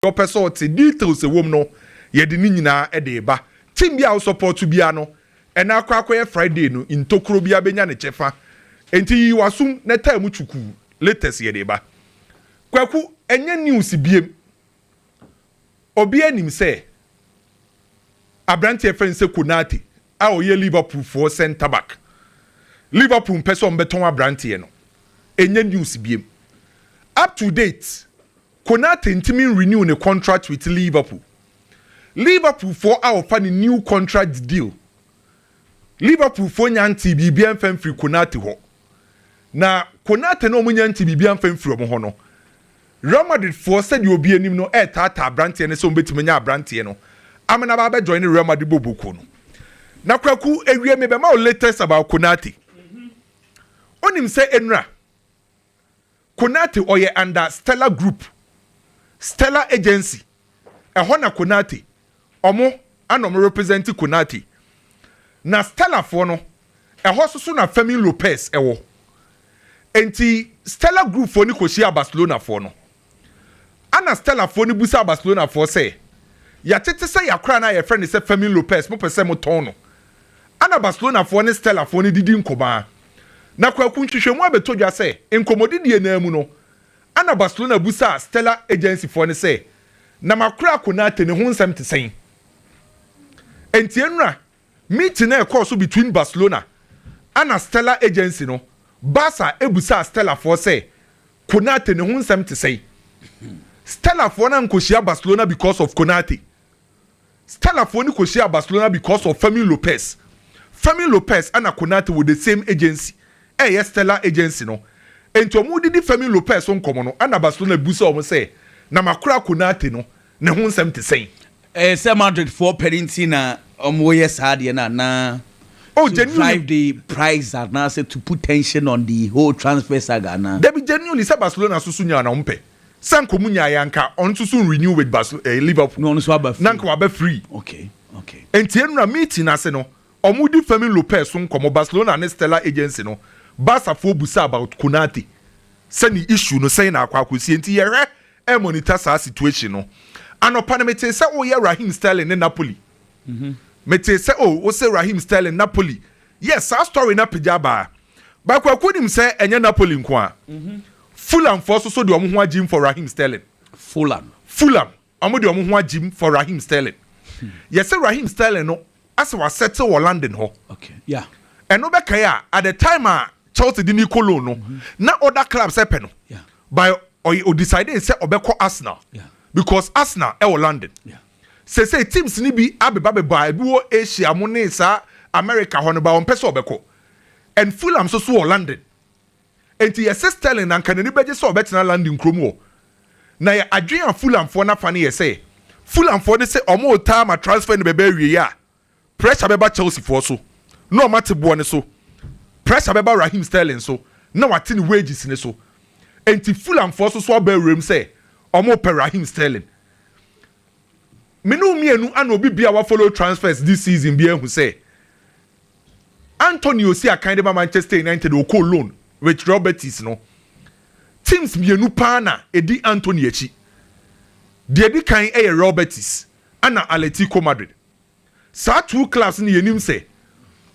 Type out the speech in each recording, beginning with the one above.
ɔpɛ sɛ ɔte details a ɛwom no, yɛde ne nyinaa de reba. Team biara a wo support biara no, ɛnɛ akɔ akɔyɛ Friday no, ntokuro biara bɛnya ne kyɛfa. Enti yiyi w'asom na taa mu twukuu, latest yɛde reba. Kwaku, ɛnyɛ news biom. Obiara nim sɛ aberanteɛ yɛfrɛ no sɛ Konate a ɔyɛ Liverpool foɔ centre back. Liverpool mpɛ sɛ wɔbɛtɔn aberanteɛ no. Ɛnyɛ news biom. Up to date. Konate ntumi nrenew ne contract with Liverpool. Liverpool foɔ a ɔfa ne new contract deal. Liverpool foɔ nya ntee biribiara mfa mfiri Konate hɔ. Na Konate no a wɔnya ntee biribiara mfa mfiri wɔn hɔ no, Real Madrid foɔ sɛdeɛ obiara nim no retaataa abranteɛ no sɛ wɔbɛtumi anya abranteɛ no ama no aba abɛjoine Real Madrid bɔɔlbɔkuo no. Na Kwaku, awie mebɛma wo latest about Konate. Wonim sɛ nnura, Konate ɔyɛ under Stella group, Stella agency, ɛhɔ na Konate ɔmo ɛna ɔmo represent Konate. Na Stella foɔ no ɛhɔ nso so na Fermin Lopez ɛwɔ. Enti Stella group foɔ no kɔhyiaa Barcelona foɔ no, ɛna Stella foɔ no busaa Barcelona foɔ sɛ, Yɛatete sɛ yɛakora no a yɛfrɛ no sɛ Fermin Lopez, mopɛ sɛ motɔn no? Ana Barcelonafoɔ ne Stellafoɔ no didi nkumaa. Na Kwaku nhwehwɛmu abɛtɔ dwa sɛ nkɔmmɔdidie no ara mu no, Ana Barcelona busaa Stella Agencyfoɔ no sɛ, Na makora Konate ne ho nsɛm te sɛn? Enti nnora meeting a ɛkɔɔ so between Barcelona ana Stella Agency no, Barca busaa Stellafoɔ sɛ, Konate ne ho nsɛm te sɛn? Stellafoɔ no ankɔhyia Barcelona because of Konate. Stella foɔ no kɔhyiaa Barcelona because of Fermin Lopez. Fermin Lopez ɛna Konate wɔ the same agency a ɛyɛ Stella agency no. Enti wɔn redidi Fermin Lopez ho nkɔmɔ no ɛna Barcelona bisa wɔn sɛ na makora Konate no ne ho nsɛm te sɛn. Ɛyɛ sɛ Madrid foɔ pɛ no nti na wɔn reyɛ saa adeɛ no anaa? Oh To genuinely. drive the price anaasɛ to put tension on the whole transfer saga anaa? Dabi genuinely sɛ Barcelona nso so nyaa na wɔn pɛ. sɛ anka ɔmo nyaeɛ anka ɔno nso so renew with Bas ɛɛ eh, Liverpool na ɔno nso aba free na anka waba free okay okay nti enura meeting n'ase no ɔmo di Fermin Lopez so nkɔmɔ Barcelona ne Stella agency no Barca foɔ busa about Konate sɛ ne issue no sɛn na akɔ akɔsie nti yɛhwɛ ɛɛ monitor saa situation no anɔpa no metee sɛ ɔyɛ Raheem Sterling ne Napoli mm -hmm. metee sɛ o oh, wosɛ Raheem Sterling Napoli yes saa story na pagya baa baako akɔ nim sɛ ɛnyɛ Napoli nko a mm -hmm. Fulhamfoɔ so so de wɔn ho agyim for Raheem Sterling. Fulham. Fulham, wɔn de wɔn ho agyim for Raheem Sterling. Yɛse Raheem Sterling no ase wa settle wɔ London hɔ. Okay, yeah. Ɛno bɛkae a, at the time a Chelsea de ne kɔ loan no, mm-hmm. na other clubs ɛpɛ no. Yeah. By ɔyɛ o decide sɛ ɔbɛkɔ Arsenal. Yeah. Because Arsenal ɛwɔ London. Yeah. Sese teams ni bi abeba beba ebi wɔ Asia mo ne saa America hɔ no ba wɔn pɛ sɛ ɔbɛkɔ. And Fulham so so wɔ London. Enti yɛse Sterling anka n'ani bɛgye sɛ ɔbɛtena London kurom hɔ. Na yɛ adwene a Fulhamfoɔ no afa no yɛ sɛ, Fulhamfoɔ no se wɔretaa ma transfer no bɛba awieɛ a, pressure bɛba Chelseafoɔ so na wɔate boɔ no so, pressure bɛba Raheem Sterling so na wɔate ne wages no so. Enti Fulhamfoɔ nso so aba awuram sɛ wɔrepɛ Raheem Sterling. Me ne wo mmienu ana obi biara wafollow transfers this season biara ahu sɛ Anthony a ɔsii akan de ma Manchester United a ɔkɔɔ loan with Real Betis no, teams mmienu paa na ɛdi Anthony akyi. Deɛ ɛdi kan yɛ Real Betis ɛna Atletico Madrid. Saa two clubs no yɛnim sɛ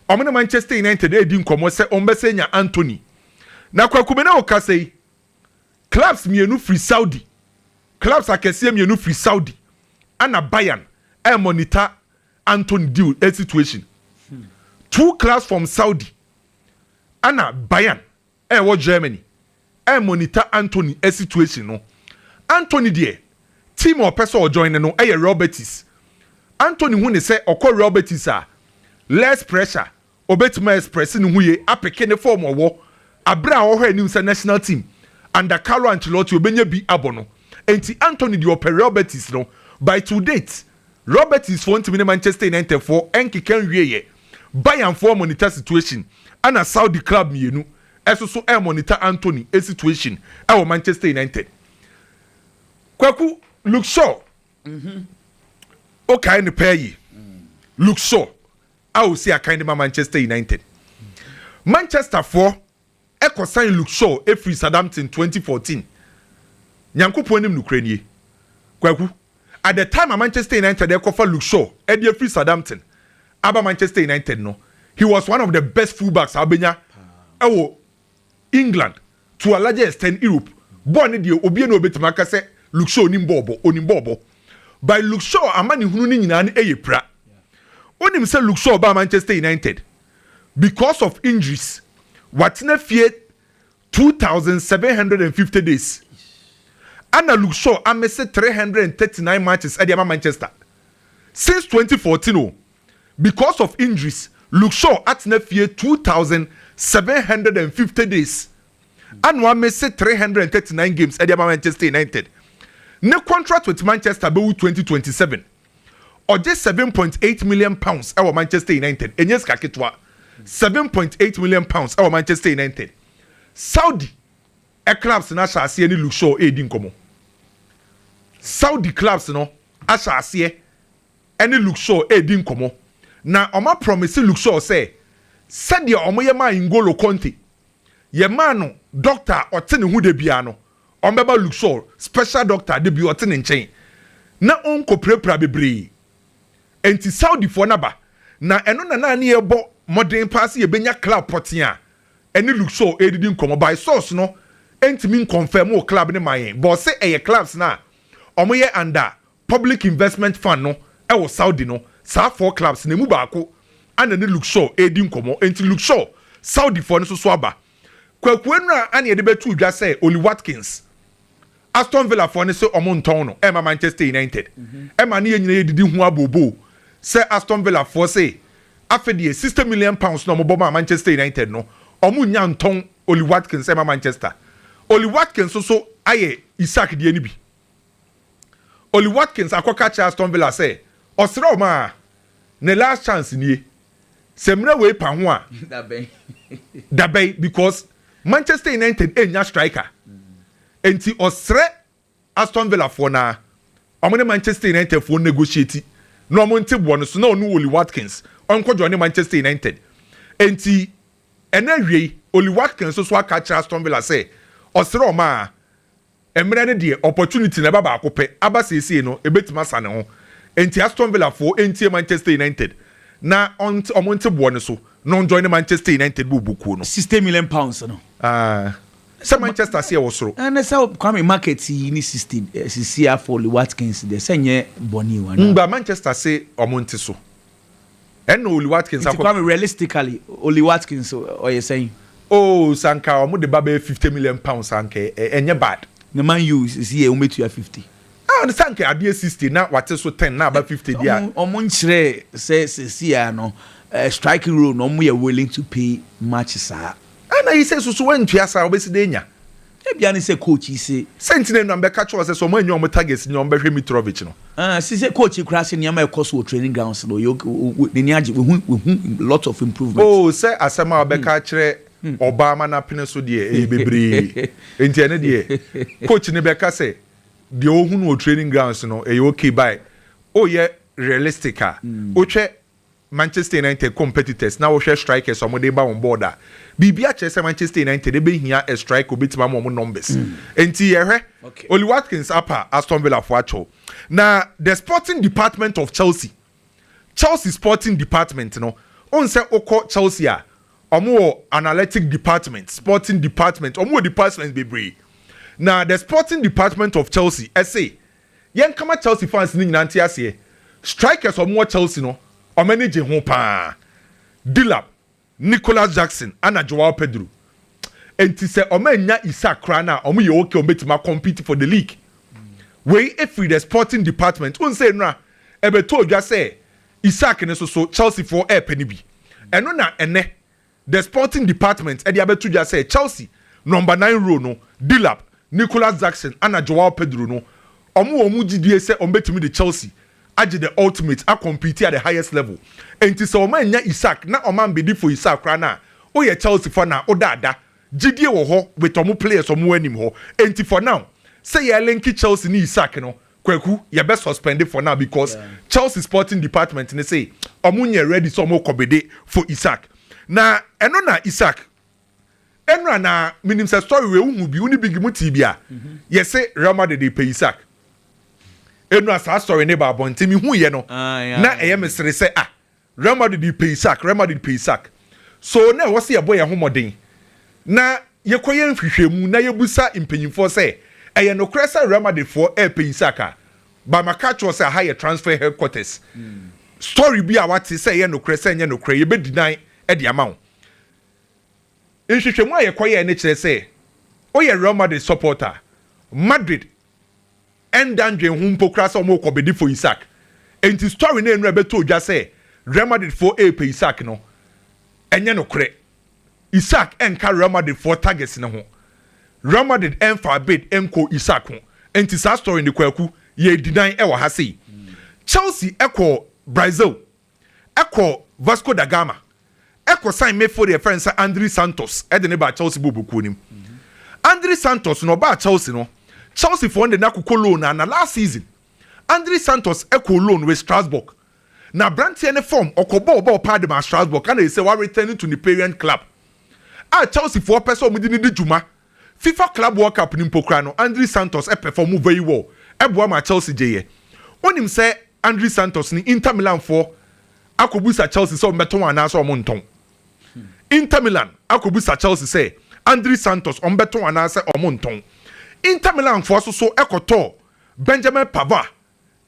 wɔn ne Manchester United redi nkɔmmɔ sɛ wɔbɛsan anya Anthony. Na Kwaku me ne wo kasa yi, clubs mmienu firi Saudi, clubs akɛseɛ mmienu firi Saudi ɛna Bayern ɛremonitor Anton deal eh situation two clubs from Saudi ɛna Bayern eh wɔ Germany eh monitor Antony eh situation no Antony deɛ team a ɔpɛ sɛ ɔ join no ɛyɛ Real Betis Antony hu ne sɛ ɔkɔ Real Betis a less pressure Obetumi a express ne ho yie apeke ne form ɔwɔ abre a ɔhwɛ anim sɛ national team under Carlo Ancelotti obenya bi abɔ no. Enti Antony deɛ ɔpɛ Real Betis no by to date Realbetis foɔ ntumi ne Manchester United foɔ nkeka nwieɛ Bayern foɔ monitor situation ɛna Saudi club mmienu ɛso so monitor Antony situation ɛwɔ Manchester United Kwaku Luke Shaw wokae no paa yie Luke Shaw a ɔsi akan de ma Manchester United. Manchesterfoɔ kɔ sign Luke Shaw firi Southampton twenty fourteen. Nyankopɔn anim nokorɛ nie, Kwaku, at the time a Manchester United rekɔfa Luke Shaw de afiri Southampton aba Manchester United no, he was one of the best fullbacks a wobɛnya wɔ England to a larger extent Europe bɔɔl no deɛ obie na obetumi aka sɛ Luke Shaw nim bɔɔl bɔ, onim bɔɔl bɔ. By Luke Shaw amanehunu no nyinaa no ɛyɛ pira. Wonim sɛ Luke Shaw baa Manchester United because of injuries, watena fie two thousand seven hundred and fifty days. Ɛna Luke Shaw amese three hundred and thirty nine matches ɛde ama Manchester since twenty fourteen o. Because of injuries, Luke Shaw atena fie two thousand seven hundred and fifty days ɛna wamese three hundred and thirty nine games ɛde ama Manchester United. Ne contract with Manchester bɛwu twenty twenty seven. Ɔgye seven point eight million pounds ɛwɔ Manchester United. Ɛnyɛ sika ketewa. Seven point eight million pounds ɛwɔ Manchester United. Saudi clubs no ahyɛ aseɛ ne Luke Shaw ɛredi nkɔmɔ. Saudi clubs no ahyɛ aseɛ. ne Luxor redi nkɔmmɔ, na wɔaprɔmese Luxor sɛ sɛdeɛ wɔyɛ maa N'Golo Kante, yɛmaa no dɔkta a ɔte ne ho da biara no, wɔbɛma Luxor special dɔkta da biara ɔte ne nkyɛn na ɔnkɔpirapira bebree. Enti Saudifoɔ no aba, na ɛno na na ne yɛrebɔ mmɔden paa sɛ yɛbɛnya club pɔtee a ɛne Luxor redidi nkɔmmɔ, by source no ntumi nkɔnfɛɛmo club no maa yɛn, bɔɔ se ɛyɛ clubs no a wɔyɛ under Public Investment Fund no wɔ Saudi no, saa four clubs no emu baako ana ne Luxor redi nkɔmmɔ. Enti Luxor Saudifoɔ no nso so aba. Kwaku Anura ana yɛde bɛtoo dwa sɛ Ollie Watkins, Aston Villafoɔ no se wɔntɔn no mma Manchester United. Ɛma ne yɛn nyinaa yɛdidi ho abooboo sɛ Aston Villafoɔ se afe deɛ sixty million pounds no a wɔbɔ maa Manchester United no, wɔnnya ntɔn Ollie Watkins mma Manchester. Ollie Watkins nso ayɛ Isak deɛ no bi. Ollie Watkins akɔka akyerɛ Aston Villa sɛ ɔsrɛ wɔn a, ne last chance nie. Sɛ mmerɛ wei pa ho a, dabɛn because Manchester United nnya striker. Enti ɔsrɛ Aston Villa foɔ no ara, wɔn ne Manchester United foɔ negotiate na wɔn nte boɔ no so na ɔne Ollie Watkins ɔnkɔ joine Manchester United. Enti ɛnɛ awiei, Ollie Watkins nso aka akyerɛ Aston Villa sɛ ɔsrɛ wɔn a, Mmerɛ no deɛ opportunity no ɛba baako pɛ, aba seesei no ɛbɛtumi asa ne ho. Enti Aston Villa foɔ ɛntie Manchester United na ɔnte wɔn nte boɔ no so na wɔn joine Manchester United bɔ bɔ kuo no. Sixty million pounds no. Aah sɛ Manchester se ɛwɔ soro. Ɛne sɛ Kwame market yi ne sixty sisia for Lee Watkins deɛ sɛ nyɛ bɔne o anaa. Ngba Manchester se wɔn nte so. Ɛna Oli Watkins akɔ. Nti Kwame realistically Oli Watkins ɔyɛ sɛn? Oh sɛ anka ɔmo de ba bɛyɛ fifty million pounds a anka ɛnyɛ bad. Ne Man U sisi yɛ ɔmo betua fifty. Ah sɛ anka adeɛ sixty na wate so ten na aba fifty deɛ a. Ɔmo nkyerɛɛ sɛ sisi a no striking role no ɔmo yɛ willing to pay much saa. Ah na yi sɛ susu wantua saa ɔbɛsi dɛ anya. Ebia ne sɛ coach yi se. Sɛ nti na anuanom bɛka kyerɛ wɔn sɛ sɛ wɔn annya wɔn targets nyi a wɔbɛhwɛ Mitrovic no. Ah, si sɛ coach yi koraa se nneɛma a ɛkɔ so wɔ training grounds no, ɔyɛ ok, o, n'ani agye, wahu, wahu lots of improvement. Oh, sɛ asɛm a wɔbɛka akyerɛ ɔbaa ma no apene so deɛ, ɛyɛ bebree. Enti ɛno deɛ, coach no bɛka sɛ deɛ ɔhu no wɔ training grounds no, ɛyɛ ok, but woyɛ realistic a, wohwɛ Manchester United competitors na wohwɛ strikers a wɔde reba wɔn board a, biribiara kyerɛ sɛ Manchester United bɛhia a striker a obetumi ama wɔn numbers. Enti yɛhwɛ, Ollie Watkins apa Aston Villa fo akyɛw, na the sporting department of Chelsea, Chelsea sporting department no, wohu sɛ wokɔ Chelsea a, wɔwɔ analytic department, sporting department, wɔwɔ departments bebree, na the sporting department of Chelsea se Yɛnka ma Chelsea fans no nyinaa nte aseɛ, strikers a wɔwɔ Chelsea no, wɔn ani gye ho pa ara. Delap, Nicolas Jackson ɛna Joao Pedro. Enti sɛ wɔannya Isak koraa no a, wɔyɛ okay, wɔbɛtumi a compete for the league. Wei firi the sporting department. Wohu sɛ nnora ɛbɛtɔɔ dwa sɛ Isak no nso so Chelseafoɔ repɛ no bi. Ɛno na ɛnnɛ The Sporting Department de abɛto dwa sɛ Chelsea nɔmba nan role no, Delap, Nicolas Jackson ana Joao Pedro no, wɔwɔ wɔn mu gyidie sɛ wɔbɛtumi de Chelsea agye the ultimate akɔmpiti at the highest level. Enti sɛ wɔannya Isak na wɔambedi for Isak koraa no a, woyɛ Chelsea fan a, woda ada. Gyidie wɔ hɔ with wɔn players wɔn anim hɔ. Enti for now, sɛ yɛrelinke Chelsea ne Isak no, Kwaku yɛ bɛ suspend for now because Chelsea sporting department no se ɔmo nyɛ ready sɛ ɔmo kɔ bede for Isak na ɛno na Isak nnura na menim sɛ story wei wohu bi wo ne big mo tee bi a yɛse Real Madrid repɛ Isak nnura saa story no ba abɔnten mehuiɛ no na ɛyɛ me sere sɛ ah Real Madrid de pɛ Isak, Real Madrid pɛ Isak. So na ɛwɔ sɛ yɛbɔ yɛn ho mmɔden na yɛkɔyɛ nhwehwɛmu na yɛbisa mpanyimfoɔ sɛ, Ɛyɛ nokorɛ sɛ Real Madridfoɔ repɛ Isak a? But maka akyerɛ wo sɛ aha yɛ transfer headquarters. Story bi a woate sɛ ɛyɛ nokorɛ, sɛ ɛnyɛ nokorɛ, yɛbɛdinan de ama wo. Nhwehwɛmu a yɛkɔyɛɛ no kyerɛ sɛ woyɛ Real Madrid supporter a, Madrid Ɛnda ndwen ho mpo koraa sɛ wɔrekɔ bedi fo Isak. Enti story no a nnura bɛtɔɔ dwa sɛ Real Madrid foɔ repɛ Isak no, ɛnyɛ nokorɛ. Isak nka Real Madrid foɔ targets no ho. Real Madrid mfaa bid nkɔɔ Isak ho. Enti saa story no, Kwaku, yɛ deny wɔ ha sei. Chelsea kɔɔ Brazil kɔ Vasco da Gama kɔ sign midfield yɛfrɛ no sɛ Andri Santos de ne baa Chelsea bɔɔ bɔkuo no mu. Andri Santos no ɔbaa Chelsea no Chelsea foɔ no de no akokɔ loan na na last season Andri Santos kɔɔ loan with Strasbourg na abranteɛ no form ɔkɔ bɔɔ ɔbɔɔ paa de maa Strasbourg ana ɛsɛ wa return to ne parent club a Chelsea foɔ pɛ sɛ wɔn de no di dwuma Fifa Club World Cup no mpo koraa no, Andri Santos pɛfɔɔmo vɛyi wɔl boa maa Chelsea gyeeɛ. Wonim sɛ Andri Santos ne Inter Milan foɔ akɔbusa Chelsea sɛ wɔbɛtɔn wɔn anaasɛ wɔntɔn? Inter Milan akɔbusa Chelsea sɛ Andri Santos wɔbɛtɔn wɔn anaasɛ wɔntɔn? Inter Milan foɔ nso so kɔtɔɔ Benjamin Pavard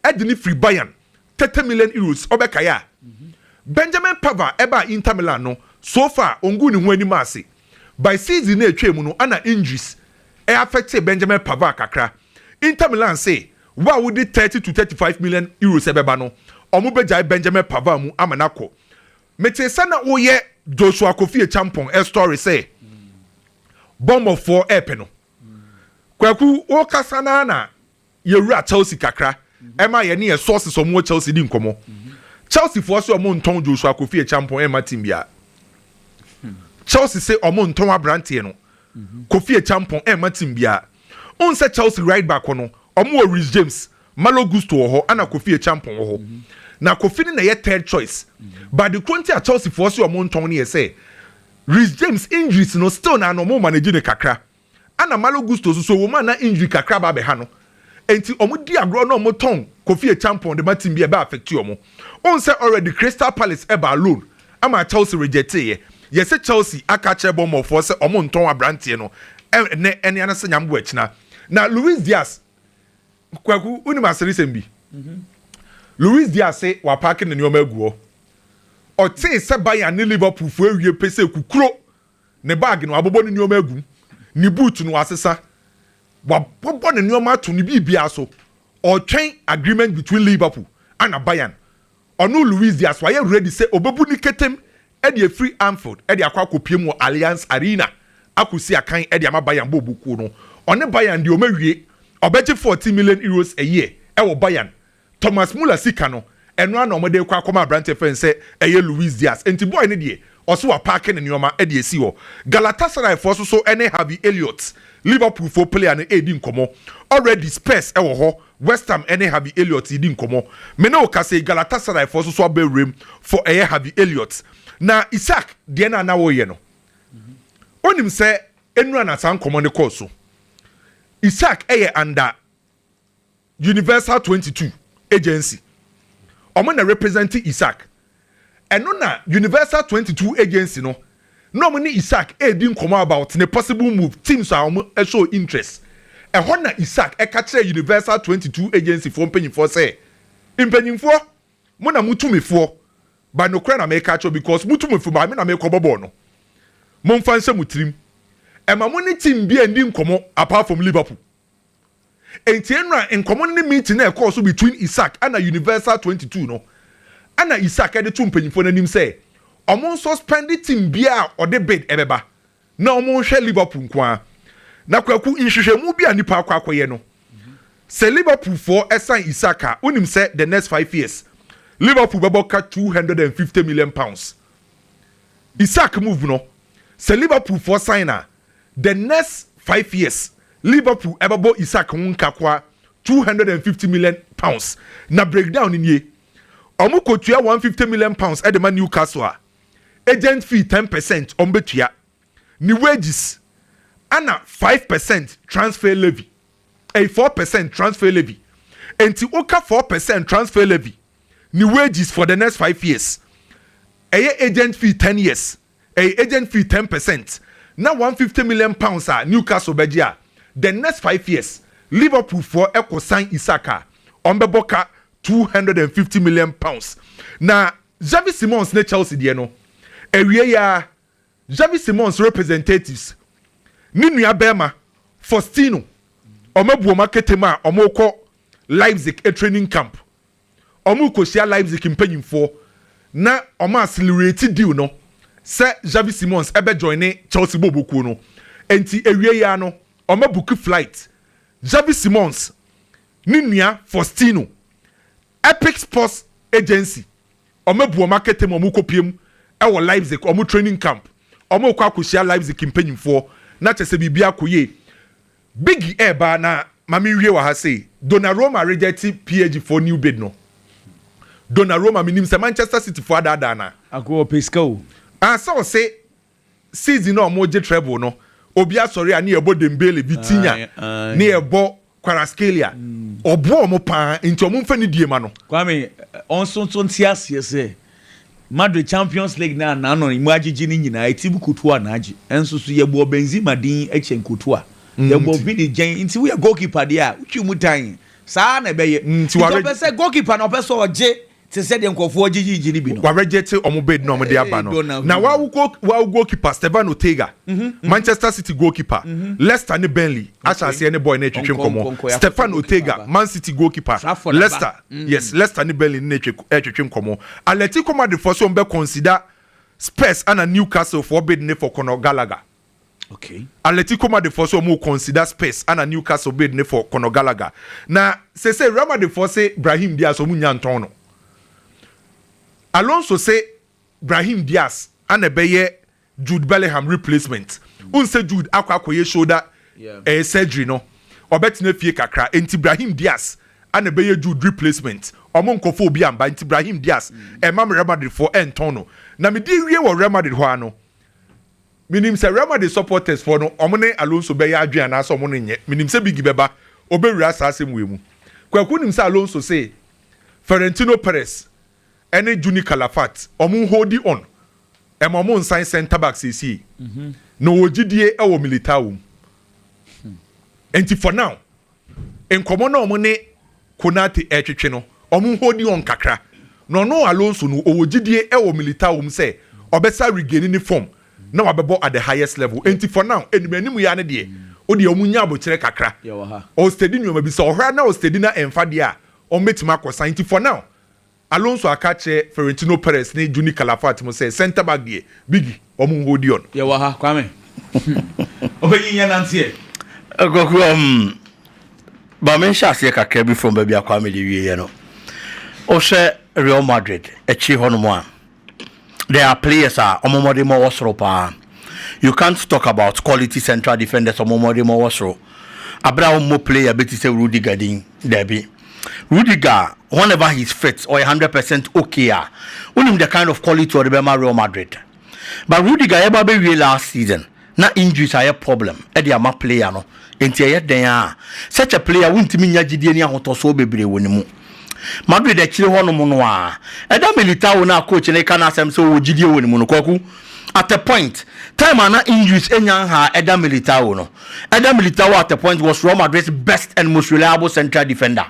Ɛde no firi Bayern, thirty million euros, ɔbɛkae a, Benjamin Pavard ɛbaa Inter Milan no, so far ɔnguu ne ho anim ase. By season no a ɛtwaam no, ɛna injuries affectee Benjamin Pavard kakra. Inter Milan se wo a wode thirty to thirty five million euros ɛbɛba no, wɔbɛgyae Benjamin Pavard mu ama no akɔ. Metee sɛ na woyɛ Joshua Kofi Acheampong story sɛ Bournemouth foɔ ɛɛpɛ no. Kwaku, wokasa no ara na Yɛwura Chelsea kakra ɛma yɛne yɛn sources ɔmo wɔ Chelsea di nkɔmɔ. Chelsea foɔ se ɔmo ntɔn Joshua Kofi Acheampong ɛma team biara. Chelsea se ɔmo ntɔn abranteɛ no Kofi Acheampong ɛma team biara. Wohu sɛ Chelsea right back hɔ no ɔmo wɔ Reece James, Malo Gusto wɔ hɔ ɛna Kofi Acheampong wɔ hɔ. Na Kofi no na ɛyɛ third choice. But ade koro nti a Chelsea foɔ se ɔmo ntɔn no yɛ sɛ Reece James injuries no still na na ɔmo manage no kakra. Ana Malo Gusto nso so wɔ mu a na injury kakra aba abɛha no nti wɔn di agorɔ na wɔn tɔn Kofi Acheampong de ma team bi a ɛbɛ affect wɔn. Ohun sɛ already Crystal Palace ɛbaa loan ama Chelsea rejectee yɛ. Yɛse Chelsea aka akyerɛ Bournemouth foɔ sɛ wɔn ntɔn abranteɛ no ɛnɛ ɛne anase nyame boa ɛkyena. Na Luis Diaz, Kwaku wonim aseresɛm bi? Luis Diaz se wapaake ne nneɛma agu hɔ. Ɔtee sɛ Bayern ne Liverpool foɔ awie pese kukuro Ne bag no, wɔabobɔ ne nneɛma agu mu. Ne boot no, wɔasesa. Wɔabobɔ ne nneɛma ato ne biribiara so. Ɔretwɛn agreement between Liverpool ɛna Bayern. Ɔno Luis Diaz, wayɛ ready sɛ ɔbɛbu ne ketem de afiri Anfield de akɔ akɔpue mu wɔ Allianz Arena akɔsi akan de ama Bayern bɔɔlbɔ kuo no. Ɔne Bayern deɛ, wɔawie. Ɔbɛgye €14 million a year wɔ Bayern Thomas Muller sika no, ɛno ara na wɔde rekɔ akɔma aberanteɛ fɛn sɛ ɛyɛ Luis Diaz. Enti boy no deɛ, ɔse wapaake ne nneɛma de asi hɔ. Galatasarayfoɔ nso so ne Harvey Elliott, Liverpoolfoɔ player no redi nkɔmmɔ. Already Spurs wɔ hɔ, West Ham ne Harvey Elliott redi nkɔmmɔ. Me ne wo kasa yi, Galatasarayfoɔ nso so aba wuram for ɛyɛ Harvey Elliott. Na Isaac, deɛ no a na woreyɛ no, wonim sɛ nnura na saa nkɔmmɔ no kɔɔ so. Isaac yɛ under. Universal twenty two agency ɔmo na represent Isaac ɛno na Universal twenty two agency no na ɔmo ne Isaac edi nkɔmɔ about ne possible move teams a ɔmo show interest ɛhɔ na Isaac ɛka kyerɛ Universal twenty two agency foɔ mpanyinfoɔ sɛ mpanyinfoɔ mo na mo tumifoɔ ba nokorɛ na meka kyerɛ because mo tumifoɔ ba me na mekɔ bɔ bɔɔl no monfa nhyɛ mo tirim ɛma mo ne team bia ndi nkɔmɔ apart from Liverpool. Enti nna nkɔmmɔ no ne meeting a ɛkɔɔ so between Isaac ɛna Universal twenty two no ɛna Isaac ɛde to mpanyinfoɔ no anim sɛ wɔn nsuspend team biara a ɔde bid ɛbɛba na wɔn nhwɛ Liverpool nko ara. Na Kwaku nhwehwɛmu bi a nnipa akɔ akɔyɛ no sɛ Liverpool foɔ ɛsan Isaac a wonim sɛ the next five years Liverpool bɛbɔ ka two hundred and fifty million pounds. Isaac move no sɛ Liverpool foɔ sign a the next five years Liverpool ɛbɛbɔ Isak ho nkakoa two hundred and fifty million pounds na breakdown no nie, Wɔn kɔtua one hundred and fifty million pounds ɛde ma Newcastle a agent fee ten percent wɔn bɛtua, ne wages ɛna five percent transfer levy ɛyi four percent transfer levy ɛnti woka four percent transfer levy ne wages for the next five years ɛyɛ agent fee ten years. Ɛyɛ agent fee ten percent na one fifty million pounds a Newcastle bɛgye a the next five years Liverpool foɔ kɔ sign Isak a wɔn bɛbɔ ka two hundred and fifty million pounds na Xavi Simons ne Chelsea deɛ no awieɛ aa Xavi Simons representatives ne nua bɛɛma Faustino wɔn abu wɔn aketem a wɔn rekɔ Leipzig training camp. wɔrekohyia Leipzig mpanyimfoɔ na wɔn accelerate deal no sɛ Xavi Simons ɛbɛ joine Chelsea bɔɔlbɔkuo no nti awiei ara no wɔn abuki flight Xavi Simons ne nua Faustino Epic Sports Agency wɔn abu wɔn akɛtɛ mu wɔn rekɔpiem ɛwɔ Leipzig wɔn training camp wɔn rekɔ akɔhyia Leipzig mpanyimfoɔ na kyɛ sɛ biribiara kɔ yie Biggie ɛɛba na ma me nwie wɔ ha sei, Donnaroma rejɛte PAG foɔ new bid no, Donnaroma menim sɛ Manchester City foɔ adaadaa no a. Ako ɔpɛ sika o. Ah sɛ ɔse season a ɔmo gye treble no obi asɔre a ne yɛbɔ Dembele, Vitinha, ne yɛbɔ Kvaratskhelia, ɔboa ɔmo paa nti ɔmo nfa ne die ma no. Kwame, ɔnso nso nte aseɛ sɛ Madrid Champions League no a n'anɔn mu agyegye no nyinaa, eti bu kotoɔ a na agye. Ɛnso so yɛbɔɔ Benzema din kyɛn kotoɔ a yɛbɔ Vini gyɛn. Nti woyɛ goalkeeper deɛ a, wotwi mu tan. Saa ara na ɛbɛyɛ. Nti ɔpɛ sɛ goalkeeper no ɔpɛ sɛ ɔgye te sɛdeɛ nkurɔfoɔ gyegyegye no bi no. Wɔarejecte wɔn bid na wɔde aba no. Na wɔawo wɔawo goalkeeper Stevan Ortega, Manchester City goalkeeper, Leicester ne Burnley ahyɛ aseɛ ne bɔɔl no retwetwe nkɔmmɔ. Stefan Ortega, Man City goalkeeper, Leicester. Yes, Leicester ne Burnley ne no ɛretwetwe nkɔmmɔ. Atletico Madrid foɔ sɛ wɔn bɛ consider Spurs ɛna Newcastle foɔ bid ne for Conor Gallagher. Okay. Atletico Madrid foɔ sɛ wɔn consider Spurs ɛna Newcastle bid ne for Conor Gallagher. Na sese Real Madrid foɔ se Brahim Diaz wɔn nya ntɔn no. Alonso se Brahim Diaz ɛna ɛbɛyɛ Jude Bellingham replacement. Wohu sɛ Jude akɔ akɔyɛ shoulder eh, surgery no, ɔbɛtena fie kakra. Enti Brahim Diaz ana ɛbɛyɛ Jude replacement. Wɔn nkɔfa obi amba, nti Brahim Diaz, ɛmma me Real Madrid foɔ ɛntɔn no. Na mede awie wɔ Real Madrid hɔ ara no, menim sɛ Real Madrid supporters foɔ no, wɔn ne Alonso bɛyɛ adwene anaasɛ wɔn no nyɛ. Menim sɛ Biggie bɛba, ɔbɛwura saa asɛm wei mu. Kwaku nim sɛ Alonso se Ferentino Perez, ɛne Juni Calafat ɔmo hoodi on ɛma ɔmo nsan centre back seesei na ɔwɔ gyidie ɛwɔ Militao wom ɛnti for now nkɔmɔ na ɔmo ne Konate ɛretwetwe no ɔmo hoodi on kakra na ɔno Alonso no ɔwɔ gyidie ɛwɔ Militao wom sɛ ɔbɛsa regaini ne form na wabɛbɔ at the highest level ɛnti for now anim anim yaa no deɛ wodeɛ ɔmo nya abokyerɛ kakra ɔwɔ steady nnoɔma bi sɛ ɔhra na ɔwɔ steady na ɛnfa deɛ a ɔmo bɛtumi akɔsan ɛnti for now Alonso aka akyerɛ Florentino Perez ne Juni Calafat mu sɛ, Centre back deɛ, Biggy, wɔn nholdi hɔ no. Yɛwɔ ha, Kwame. Hmm. Ɔbɛnyin yɛ nante ɛ. Kwaku, um, ma me nhyɛ aseɛ kakra bi from baabi a Kwame de wieɛ no. Wohwɛ Real Madrid akyiri hɔnom a, There are players a ɔmo mmɔdemmɔ wɔ soro paa. You can't talk about quality central defenders a ɔmo mmɔdemmɔ wɔ soro abere a ɔmmɔ player bi te sɛ Rudiger din. Dabi. Rudiger, whenever he's fit, ɔyɛ hundred percent okay a, wonim the kind of quality a ɔde bɛma Real Madrid. But Rudiger yɛba bɛwie last season, na injuries ayɛ problem de ama player no, enti ɛyɛ dɛn ara a, such a player wontumi nnya gyidie ne ahotɔsoɔ bebree wɔ ne mu. Madrid akyire hɔnom no ara, ɛda Militao no a coach no reka n'asɛm sɛ ɔwɔ gyidie wɔ ne mu no, Kwaku, at a point, time a na injuries nnya nhaa ɛda Militao no, ɛda Militao at a point was Real Madrid's best and most reliable central defender.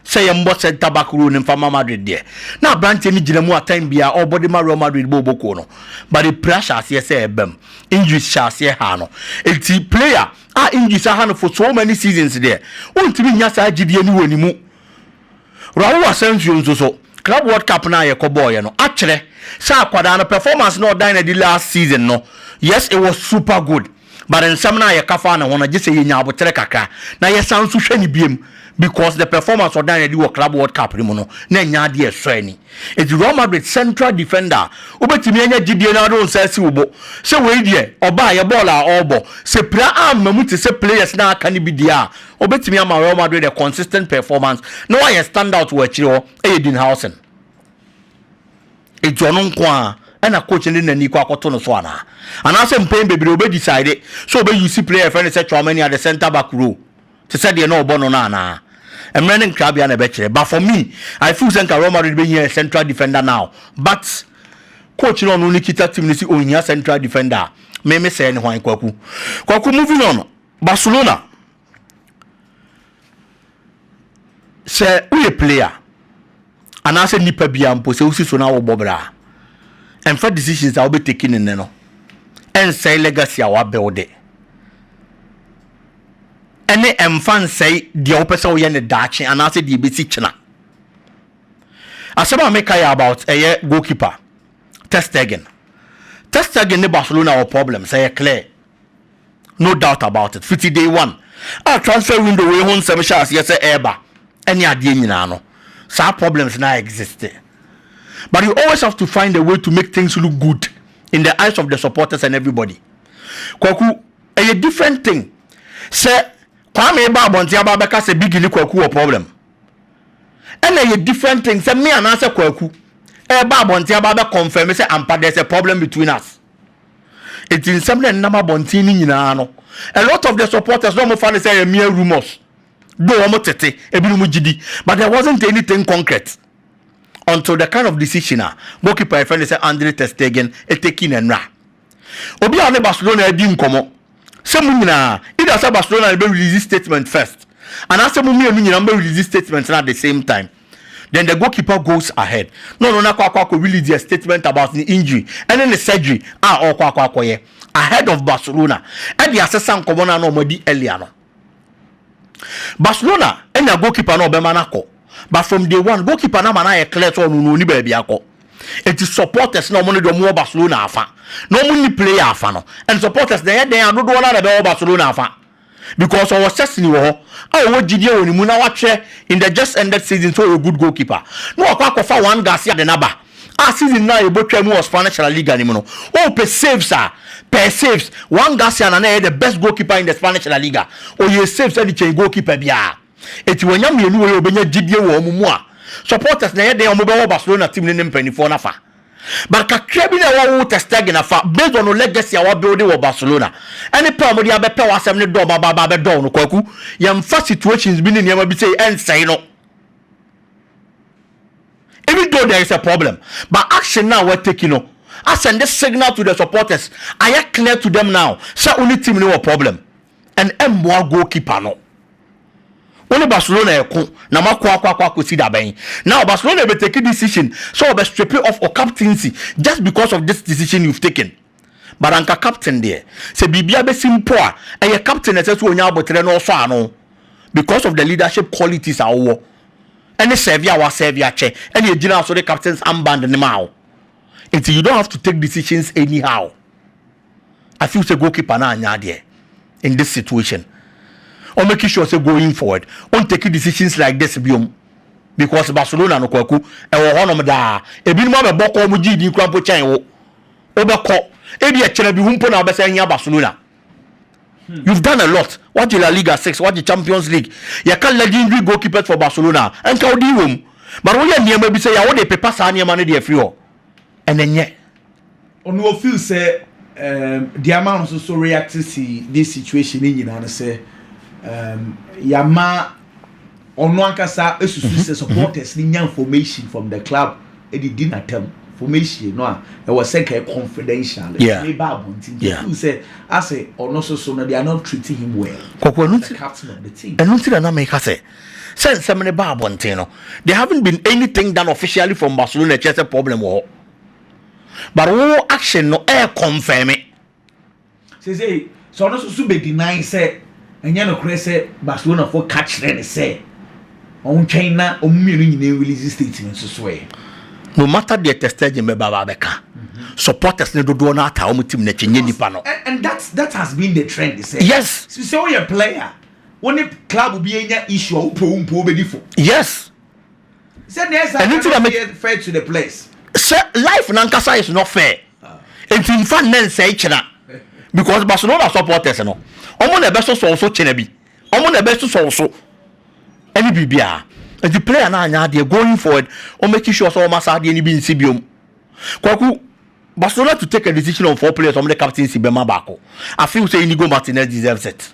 sɛ yɛmmɔ centre back role no mfa ma Madrid deɛ, na aberanteɛ no gyina mu atɛn biara ɔrebɔ de ma Real Madrid bɔ ɔbɔ kuo no, but apira hyɛ aseɛ sɛ ɛreba mu, injuries hyɛ aseɛ haa no. Enti player a injuries aha no for so many seasons deɛ, wontumi nnya saa gyidie no wɔ ne mu. Raul Asensio nso so, Club World Cup no a yɛkɔbɔɔeɛ no, akyerɛ sɛ akwadaa no, performance no a ɔdan no adi last season no, yes it was super good, but nsɛm no a yɛka faa ne ho no gyesɛ yɛnya aboterɛ kakra na yɛsan nso hwɛ no biom because the performance ɔdaa no adi wɔ Club World Cup no mu no na ɛnyɛ adeɛ a ɛsɔ ani nti Real Madrid central defender a wobɛtumi anya gyidie na wode wo nsa asi wo bo sɛ wei deɛ ɔbaeɛ bɔɔl a ɔrebɔ sɛ pira amma mu te sɛ players no a aka no bi deɛ a ɔbɛtumi ama Real Madrid a consistent performance na wayɛ standout wɔ akyire hɔ yɛ Dean Howson. Enti ɔno nko ara na coach no de n'ani kɔ akɔto no so anaa? Anaasɛ mpɛn bebree obe decide sɛ obe use player a yɛfrɛ no sɛ Tchouameni at the centre back role te sɛ deɛ na ɔbɔ no no anaa? Mmerɛ ne ntweabea na ɛbɛkyerɛ but for me I feel sɛ nka Real Madrid bɛhia a central defender now but coach no a ɔno ne kita team no se ɔnhia central defender a me me sɛɛ ne hwan Kwaku? Kwaku moving on Barcelona Sɛ woyɛ player anaasɛ nipa biara mpo sɛ wosi so na wobɔ bra a, ɛmfa decisions a wobɛ take ne nnɛ no ɛnsɛe legacy a wabuild ɛne ɛmfa nsɛe deɛ wopɛ sɛ woyɛ ne daakye anaasɛ deɛ ɛbɛsi kyena. Asɛm a meka yɛ about ɛyɛ goalkeeper Ter Stegen. Ter Stegen ne Barcelona wɔ problem sɛ yɛ clear. no doubt about it fiti day one a transfer window wei ho nsɛm hyɛ aseɛ sɛ ɛreba ɛne adeɛ nyinaa no saa problems na exist but you always have to find a way to make things look good in the eyes of the supporters and everybody kwaku ɛyɛ different thing sɛ kwame ba abɔnten aba abɛka sɛ bigi ne kwaku wɔ problem ɛna ɛyɛ different thing sɛ me anaasɛ kwaku ɛba abɔnten aba abɛ confirm sɛ ampa there's a problem between us Enti nsɛm na ɛnenam abɔnten no nyinaa no, a lot of the supporters na wɔfa no sɛ ɛyɛ mere rumours, though wɔn tete, ebinom gye di, but there wasn't anything concrete until the kind of decision a goalkeeper a yɛfrɛ no sɛ Andre ter Stegen eteki no nnora. Obi a ɔne Barcelona adi nkɔmmɔ sɛ mo nyinaa, either sɛ Barcelona na ɛbɛ release statement first, anaasɛ mo mmienu nyinaa mobɛ release statement no at the same time. then the goalkeeper goes ahead na ɔno no akɔ akɔ akɔ release a statement about ne injury ɛne ne surgery a ɔrekɔ akɔ akɔyɛ ahead of Barcelona ɛde asesa nkɔmmɔ no a na wɔn adi earlier no. Barcelona anya goalkeeper na ɔbɛma no akɔ but from day one goalkeeper no ama no ayɛ clear sɛ ɔno no ɔni baabi akɔ eti supporters na wɔn no deɛ wɔn wɔ Barcelona afa na wɔn ni player afa no and supporters na ɛyɛ dɛn a dodoɔ no ara na ɛbɛwɔ Barcelona afa. because ɔwɔ Szczesny wɔ hɔ a ɔwɔ gyidie wɔ ne mu na wakyerɛ in the just ended season sɛ ɔyɛ good goalkeeper na wakɔ akɔfa Juan Garcia de no aba a season no a yɛbɔtwaa mu wɔ Spanish La Liga no mu no ɔɔpɛ saves a pɛɛ saves Juan Garcia na na ɛyɛ the best goalkeeper in the Spanish La Liga ɔyɛɛ saves de kyɛn goalkeeper biara enti wanya mmienu wei a ɔbɛnya gyidie wɔ wɔn mu a supporters na ɛyɛ dɛn a wɔbɛwɔ Barcelona team no ne mpanimfoɔ no afa. But kakra bi na ɛwɔ wo Ter Stegen afa based on wo legacy a wa build wɔ Barcelona. Ɛne pɛ a wɔde abɛpɛ w'asɛm ne dɔm aba aba abɛdɔw no Kwaku. Yɛmfa situations bi ne nneɛma bi sei ɛnsɛe no. Even though there is a problem but action no a wa take no asɛnde signal to the supporters. Ayɛ clear to them now sɛ wo ne team no wɔ problem. And ɛmmoa goalkeeper no. Wo ne Barcelona reko na moako ako akɔ akɔsi da bɛn? Now Barcelona bɛ take decision sɛ wɔbɛ strip you of ur captaincy just because of this decision you've taken. But anka captain deɛ sɛ biribi abɛsi mpo a, ɛyɛ captain na ɛsɛ sɛ ɔnya aboterɛ na ɔsɔ ano because of the leadership qualities a wowɔ ɛne serve a woasɛve akyɛ ɛne ɛgyinaa so de captain's armband no maa wo. Nti you don't have to take decisions anyhow. I feel say goalkeeper na anya adeɛ in this situation. Or make sure say going forward, on take decisions like this biom. Because Barcelona no kwaku, ɛwɔ hɔnom daa. Ebinom abɛbɔ kɔ ɔmo gye din kura mpo kyɛn wo. Wobɛkɔ. Ebi ɛkyerɛ bi ho mpo na wobɛsɛ ahia Barcelona. Hmm. You've done a lot. What the La Liga 6, what the Champions League. You can legendary goalkeepers for Barcelona. And Kaudi wom. But we are near maybe say I would paper Sani man the free. and ɛnyɛ. Ɔno o feel sɛ um, deɛ ama no nso so react si this situation ne nyinaa no sɛ um, yɛama ɔno ankasa susu mm-hmm. sɛ supporters ne nya information from the club ɛde di n'atam formation no a ɛwɔ sɛ nka confidential yeah. ne ba abɔnten nti yeah. feel sɛ asɛ ɔno so so no they are not treating him well kɔkɔ ɛno nti ɛno nti na na meka sɛ Sɛ nsɛm no ba abɔnten no, there haven't been anything done officially from Barcelona ɛkyerɛ sɛ problem wɔ hɔ. But wo action no ɛɛ confirm. Seesei sɛ ɔno nso so bɛ deny sɛ ɛnyɛ nokorɛ sɛ Barcelona foɔ ka kyerɛ no sɛ ɔntwɛn na wɔn mmienu nyinaa release statement nso so ɛ. No matter deɛ Ter Stegen bɛba ba bɛka, mm-hmm. supporters ne dodoɔ no ataa wɔn team no akyi nyɛ nipa no. And that that has been the trend sɛ. Yes. Sɛ ɔyɛ player. wo ne club bi anya issue a wo po wo mpo wobɛdi fo yes sɛ na ɛsa ɛno nti na meyɛ fair to the place sɛ life nankasa is not fair ah. nti mfa nnɛ nsɛe kyena because barcelona supporters no ɔmo na ɛbɛsosɔw so kyena bi ɔmo na ɛbɛsosɔw so ɛne biribiara nti player no anyɛ adeɛ going forward ɔmɛki sure sɛ ɔma saa adeɛ no bi nsi biom Kwaku, Barcelona to take a decision on four players wɔn de captaincy bɛma baako. I feel sɛ Inigo Martinez deserves it.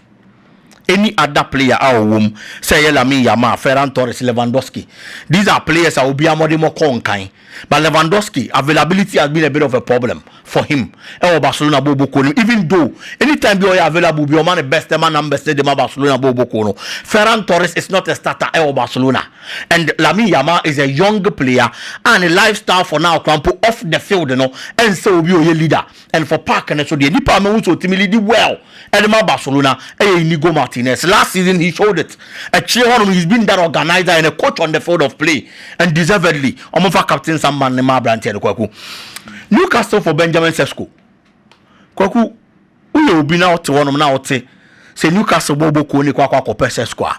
Any other player a ɔwɔ mu, sɛ ɛyɛ Lamine Yamal, Ferran Torres, Lewandowski, these are players a obiara mmɔdemmɔ kɔɔ nkan. But Lewandowski, availability has been a bit of a problem for him wɔ Barcelona bɔɔlbɔ kuo no mu even though anytime bi a ɔyɛ available bi a ɔma ne best, ɛma numbers no de ma Barcelona bɔɔlbɔ kuo no. Ferran Torres is not a starter wɔ Barcelona. And Lamine Yamal is a young player a ne life style for now koraa mpo off the field no ɛnsɛ obi a ɔyɛ leader and for park no so deɛ nipa a mahu sɛ ɔtumi leadi well de ma Barcelona ɛyɛ Inigo Martinez. Last season he showed it. Akyire hɔ nom he's been that organiser and a coach on the field of play and deservedly wɔmfa captain samban no mma aberanteɛ no Kwaku. Newcastle for Benjamin Sesko. Kwaku. Woyɛ obi na wote hɔnom na wote sɛ Newcastle bɔ wobɔ kuo no kɔ akɔ akɔpɛ Sesko a,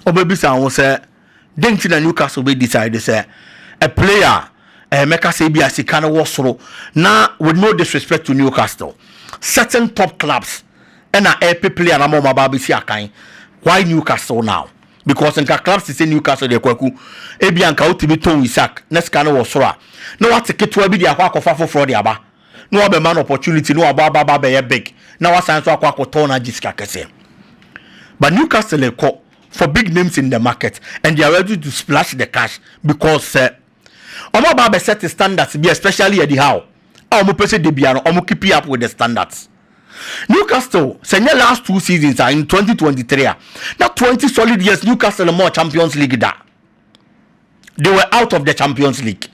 wobɛbisa wo ho sɛ, dɛn nti na Newcastle bɛ decide sɛ a player a eh, mɛka sɛ ebi a sika no wɔ soro na with no disrespect to Newcastle, certain top clubs ɛna ɛpɛ player no ama wɔn aba abɛsi akan. Why Newcastle now? Because nka clubs te sɛ Newcastle deɛ kwaku, ebi a nka wotumi tɔn Isak na sika no wɔ soro a, na wate ketewa bi de akɔ akɔfa foforɔ de aba. na wɔabɛma no opportunity na wabɔ aba aba abɛyɛ big na wasan nso akɔ akɔtɔn na agye sika kɛse. But Newcastle rekɔ for big names in the market and they are ready to splash the cash because sɛ wɔaba abɛset standards bi especially Eddie Howe a wɔpɛ sɛ da biara no wɔn keep up with the standards. Newcastle sɛ nyɛ last two seasons a in 2023 a na 20 solid years Newcastle mmɔɔ Champions League da. they were out of the champions league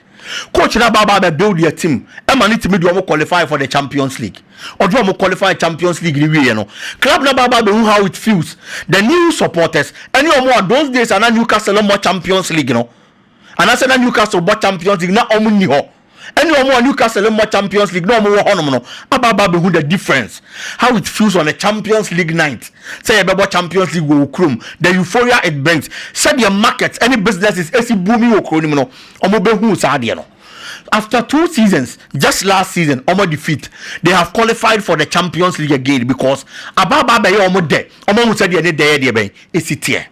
coach na baba bɛ build their team ɛma ne timi de wɔn qualify for the champions league ɔde wɔn qualify champions league ne wieɛ no club na baba bɛ hu how it feels the new supporters ɛne wɔn a those days ana newcastle mmɔ champions league no anaasɛ na newcastle bɔ champions league na wɔn nni hɔ ɛne wɔn a Newcastle mmɔ Champions League na wɔn wɔ hɔnom no aba aba abɛhu the difference how it feels on a Champions League night sɛ yɛbɛbɔ Champions League wɔ wo kurom the euphoria it brings sɛdeɛ market ɛne businesses ɛsi booming wɔ kuro no mu no wɔn bɛhu saa adeɛ no after two seasons just last season wɔn defeat they have qualified for the Champions League again because aba aba abɛyɛ wɔn dɛ wɔn ahu sɛdeɛ ne dɛ yɛ deɛ bɛn ɛsi teɛ.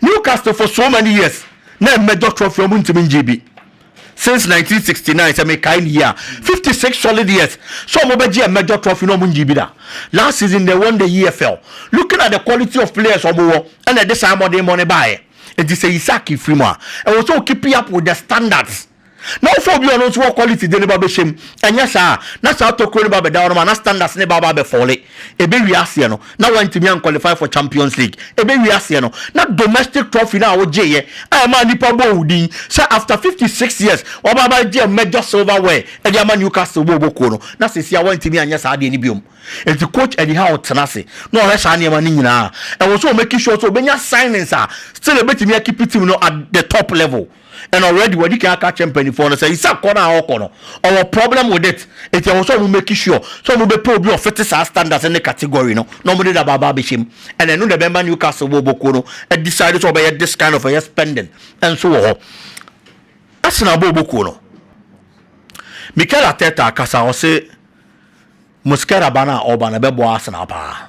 Newcastle for so many years na ɛmɛdɔ trophy ɔmo ntumi ngye bi since 1969 sɛ mekae ne yie a 56 solid years sɛ ɔmo bɛgye ɛmɛdɔ trophy na ɔmo ngye bi da last season they won the EFL looking at the quality of players ɔmo wɔ ɛna ɛde saa mmɔdenmɔ no baeɛ nti sɛ Isak firi mu a ɛwɔ sɛ okipi up with the standards Na wo fɔ obi a ɔno nso wɔ quality de ne ba bɛhyɛ mu. Ɛnyɛ saa a, na saa tokuro no ba bɛda hɔ nom a, na standards no ba aba abɛ falle. Ɛbɛwie aseɛ no, na woantumi an qualify for Champions League. Ɛbɛwie aseɛ no, na domestic trophy no a wogyeeɛ a ɛmaa nnipa bɔɔ wo din sɛ after 56 years woaba abɛgye major silverware de ama Newcastle bɔɔlbɔ kuo no, na seesei a woantumi anyɛ saa adeɛ no biom. Enti coach Eddie Howe tena ase na ɔhwɛ saa nneɛma no nyinaa. Ɛwɔ sɛ ɔmake sure sɛ ɔbɛnya signings a still ɛbɛtumi akeep team no at the top level. and already wɔde kan aka kyerɛ mpanimfoɔ no sɛ isa kɔ no a ɔkɔ no ɔwɔ problem with it nti ɛwɔ sɛ ɔmo make sure sɛ ɔmo bɛpɛ obi a ɔfete saa standards ne category no na ɔmo de daba aba abɛhyɛ mu and ɛno na ɛbɛma Newcastle bɔɔlbɔ kuo no decide sɛ ɔbɛyɛ this kind of ɛyɛ spending nso wɔ hɔ Arsenal bɔɔlbɔ kuo no Mikel Arteta akasa ɔse Mosquera ba no a ɔba no ɛbɛboa Arsenal paa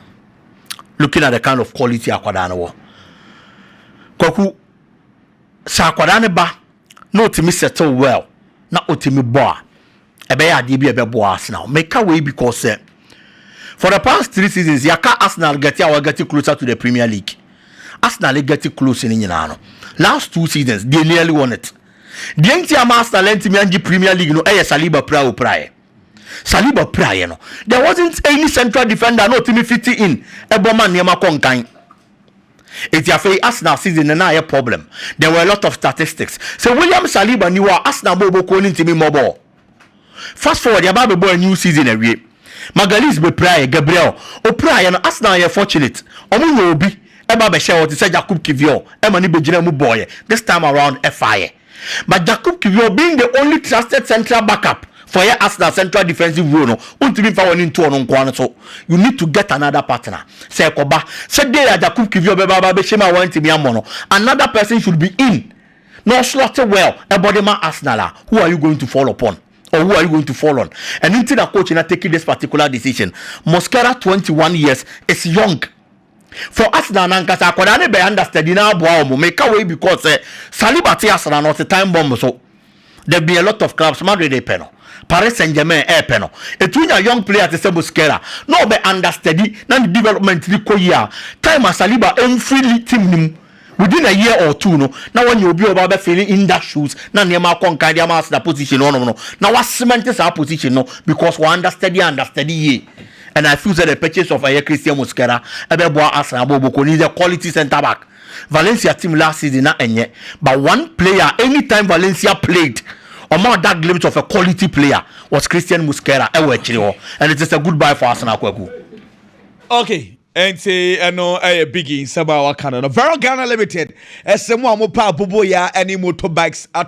looking at the kind of quality akwadaa no wɔ kwaku sɛ akwadaa no ba na ɔtumi settle well na ɔtumi bɔ a, ɛbɛyɛ adeɛ bi a ɛbɛboa Arsenal. Meka wei because sɛ for the past three seasons yɛaka Arsenal gɛte a wɔagɛte closer to the Premier League. Arsenal gɛte close no nyinaa no last two seasons they nearly won it. Deɛ nti ama Arsenal antumi angye Premier League no ɛyɛ Saliba pira o piraeɛ. Saliba piraeɛ no there wasn't any central defender na ɔtumi fiti in ɛbɔ ma nneɛma kɔ nkan. Enti afei Arsenal season no na ayɛ problem. There were a lot of statistics. Sɛ William Saliba nni hɔ a, Arsenal bɔ a wɔbɔkuo no ntumi mmɔ bɔɔl. Fast forward, yɛaba abɛbɔ a new season awie. Magalhaes bɛpiraeɛ, Gabriel, ɔpiraeɛ no, Arsenal yɛɛ fortunate. Wɔyɛɛ obi ba bɛhyɛɛ hɔ te sɛ Jakub Kiwior ma no bɛgyinaa mu bɔeɛ. This time around, ɛfaeɛ. But Jakub Kiwior being the only trusted central backup for yɛ Arsenal central defensive role no, wontumi mfa w'ani nto ɔno nko ara no so. You need to get another partner. Sɛ ɛkɔba sɛ day a Jakub Kiwior bɛba aba abɛhyɛ mu a woantumi ammɔ no, another person should be in na ɔslot well bɔ de ma Arsenal a, who are you going to fall upon? Or who are you going to fall on? Ɛno nti na coach no atake this particular decision. Mosquera, twenty one years, is young. For Arsenal no ankasa akwadaa no bɛyɛ understudy na aboa wɔn. Meka wei because sɛ Saliba te Arsenal no ɔte time bomb so. There been a lot of clubs Madrid repɛ no, Paris Saint-Germain ɛrepɛ no. Ɛtumi nya young player te sɛ Mosquera na ɔbɛ understudy na ne development no kɔ yie a, time a Saliba ɛmfiri team no mu, Within a year or two no, na wɔanya obi a ɔbɛba abɛ fille in that shoes na nneɛma akɔ nkan de ama aseda position no hɔnom no, na wa cement saa position no because wa understudy understudy yie and I feel sɛ the purchase of ɛyɛ Christian Mosquera ɛbɛboa Arsenal abɔ ɔbɔkuo no, he is a quality centre back. Valencia team last season na ɛnyɛ but one player anytime Valencia played ɔma ɔda glimpse of a quality player was Christian Mosquera ɛwɔ akyire hɔ and it is a goodbye for Arsenal Kwaku. okay ɛnti ɛno ɛyɛ biggie nsɛm a waka no no Vero Ghana Limited ɛsɛ mu a mo pɛ aboboyaa ɛne motorbikes atɔ